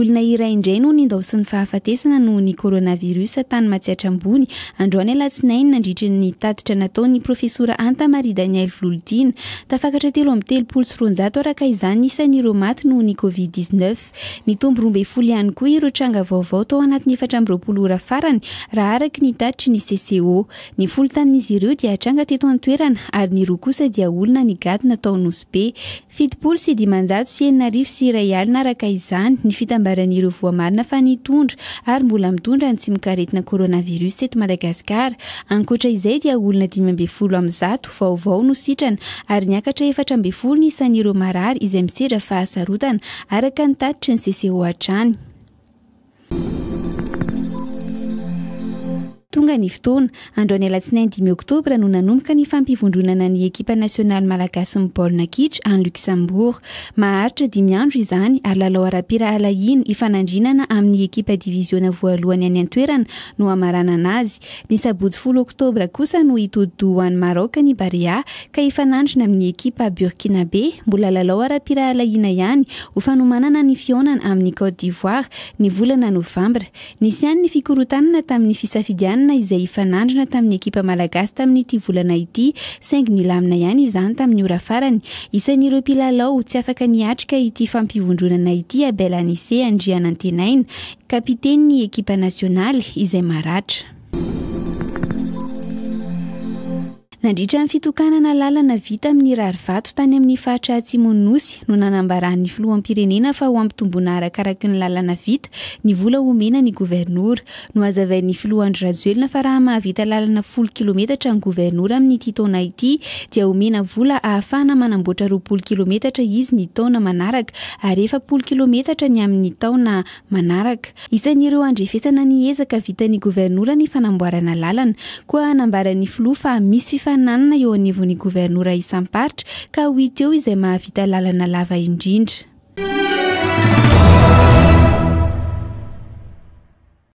Olona iray indray no nindaosin'ny fahafatesana noho ny coronavirus tany Matsiatra Ambony androany alatsinainy nandritra ny tatitra nataon'ny profesora Anta Marie Daniel Volodina. Tafakatra telo amby telopolo sy roanjato araka izany isan'ireo maty noho ny Covid-19. Nitombo roa ambin'ny folo ihany koa ireo tranga vaovao tao anatin'ny efatra amby roapolo ora farany raha araka ny tatitry ny CCO. Ny folo tamin'izy ireo dia tranga teto an-toerana ary ny roa kosa dia olona nigadona tao Nosy Be. Fitopolo sy dimanjato sy enina arivo sy iray alina araka izany ny fitambaran'ireo voamarina fa nitondra ary mbola mitondra ny tsimokaretina coronavirus eto Madagasikara. Ankoatra izay dia olona dimy ambin'ny folo amin'ny zato vaovao no sitrana ary niakatra efatra ambin'ny folo ny isan'ireo marary izay misedra fahasarotana araka ny tatitry ny CCO hatrany. Tonga ny fotoana. Andro ny alatsinainy dimy oktobra no nanomboka ny fampivondronana ny ekipa nasionaly malagasin'ny baolina kitra any Luxembourg. Maharitra dimy andro izany ary lalao ara-pirahalahiana hifanandrinana amin'ny ekipa diviziona voalohany any an-toerana no hamaranana azy. Ny sabotsy folo oktobra kosa no hitodi-doha ho any Maraoka ny Barea ka hifanandrina amin'ny ekipa Burkinabe, mbola lalao ara-pirahalahiana ihany, ho fanomanana ny fihaonana amin'i Côte d'Ivoire ny volana novambra. Nisy ihany ny fikorontanana tamin'ny fisafidianana izay hifanandrina tamin'ny ekipa malagasy tamin'ity volana ity saingy nilamina ihany izany tamin'ny ora farany. Isan'ireo mpilalao tsy afaka niatrika ity fampivondronana ity Abel Anise Andrianantenaina, Kapitenin'ny ekipa nasionaly izay maratra. Nandritra ny fitokanana lalana vita amin'ny rarivato tany amin'ny faritra atsimon'ny Nosy no nanambaran'ny filoham-pirenena fa ho ampitomboina arakaraky ny lalana vita ny vola omena ny governora. Nohazavain'ny filoha Andry Rajoelina fa raha mahavita lalana folo kilometatra ny governora amin'ity taona ity dia omena vola ahafahana manamboatra roapolo kilometatra izy ny taona manaraka ary efapolo kilometatra ny amin'ny taona manaraka. Isan'ireo andrefesana ny ezaka vitan'ny governora ny fanamboarana lalana. Koa nambaran'ny filoha fa misy fifaninanana eo anivon'ny governora isam-paritra ka ho hita eo izay mahavita lalana lava indrindra.